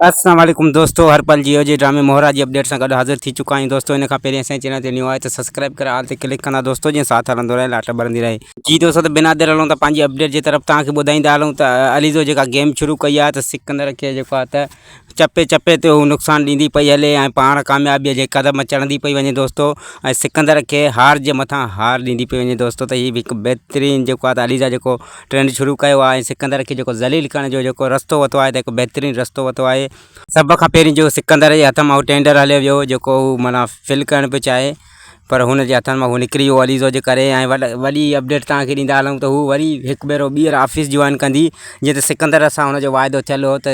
السلام عليڪم دوستو هر پل جيو جي ڊرامي مهرا جي اپڊيٽ سان گڏ حاضر ٿي چڪا آهيون دوستو ان کان پهرين اسان چينل تي نيو آهي ته سبسڪرائب ڪري آل تي ڪلڪ ڪندا دوستو جيئن ساٿ هلندو رهي لاٽ ٻرندي رهي. جي دوستو ته بنا دير هلون ته پنهنجي اپڊيٽ جي طرف توهان کي ٻڌائيندا هلون ته عليزو جيڪا گيم شروع ڪئي آهي ته سڪندر کي جيڪو آهي ته چپي چپي تي هو نقصان ڏيندي پئي هلي ۽ پاڻ ڪاميابيء جي قدم چڙهندي پئي وڃي دوستو ۽ سڪندر کي هار جي مٿان هار ڏيندي پئي وڃي دوستو ته هي به هڪ بهترين جيڪو آهي ته عليزا جيڪو ٽرينڊ شروع ڪيو آهي ۽ سڪندر کي جيڪو ذليل ڪرڻ جو جيڪو رستو وتو آهي ته هڪ بهترين رستو وتو آهي. سڀ کان پهرين جو سڪندر جي هٿ مان اهو ٽينڊر هليو ويو جيڪو هو معنيٰ فل ڪرڻ پيو چاهي پر هن جي هٿن مان اهو نڪري ويو عليزو جي ڪري ۽ وڏ وڏي اپڊيٽ تان کي ڏيندا هلون ته هو وري هڪ ڀيرو ٻيهر آفيس جوائن ڪندي جيئن ته سڪندر سان هن جو واعدو ٿيل هو ته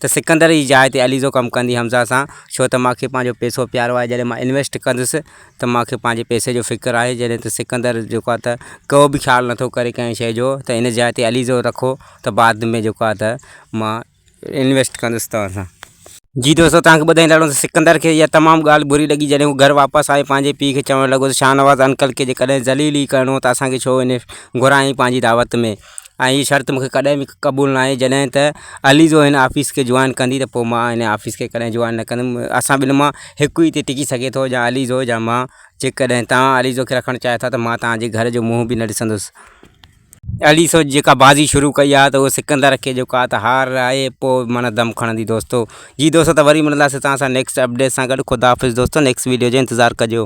ته سڪندر جي جاء تي عليزو ڪم ڪندي حمزه سان، ڇو ته مان کي پنهنجو پئسو پيارو آهي، جڏهن مان انويسٽ ڪندس ته مان کي پنهنجي پئسي جو فڪر آهي، جڏهن ته سڪندر جيڪو آهي ته ڪو به خيال نٿو ڪري ڪنهن شيء جو ته ان جاء تي عليزو رکو ته بعد ۾ جيڪو آهي ته مان انويسٽ ڪندس توهان سان. جي دوستو توهان کي ٻڌائيندڙ هلون ته سڪندر کي اها تمام ڳالهه بري لڳي جڏهن هو گهر واپس آيو پنهنجي پيء کي چوڻ لڳو ته شاهنواز انڪل کي جيڪڏهن ذليل ئي ڪرڻو هو ته اسان کي ڇو انويسٽ گهرايائين پنهنجي دعوت ۾. ۽ هيء شرط مون کي ڪڏهن به قبول نه آهي جڏهن ته عليزو هن آفيس کي جوائن ڪندي ته پوء مان هن آفيس کي ڪڏهن جوائن نه ڪندم اسان ٻنهي مان هڪ ئي هتي ٽڪي سگهي ٿو يا عليزو يا مان جيڪڏهن توهان عليزو کي رکڻ چاهيو ٿا ته مان توهان جي گهر جو منهن به نه ڏسندس. عليزو جيڪا بازي شروع ڪئي آهي ته اهو سڪندر کي جيڪو آهي ته هار آهي پوء معنيٰ دم کڻندي دوستو جي دوستو ته وري ملنداسين توهان سان نيڪسٽ اپڊيٽ سان گڏ خداحافظ دوستو نيڪسٽ ويڊيو جو انتظار ڪجو.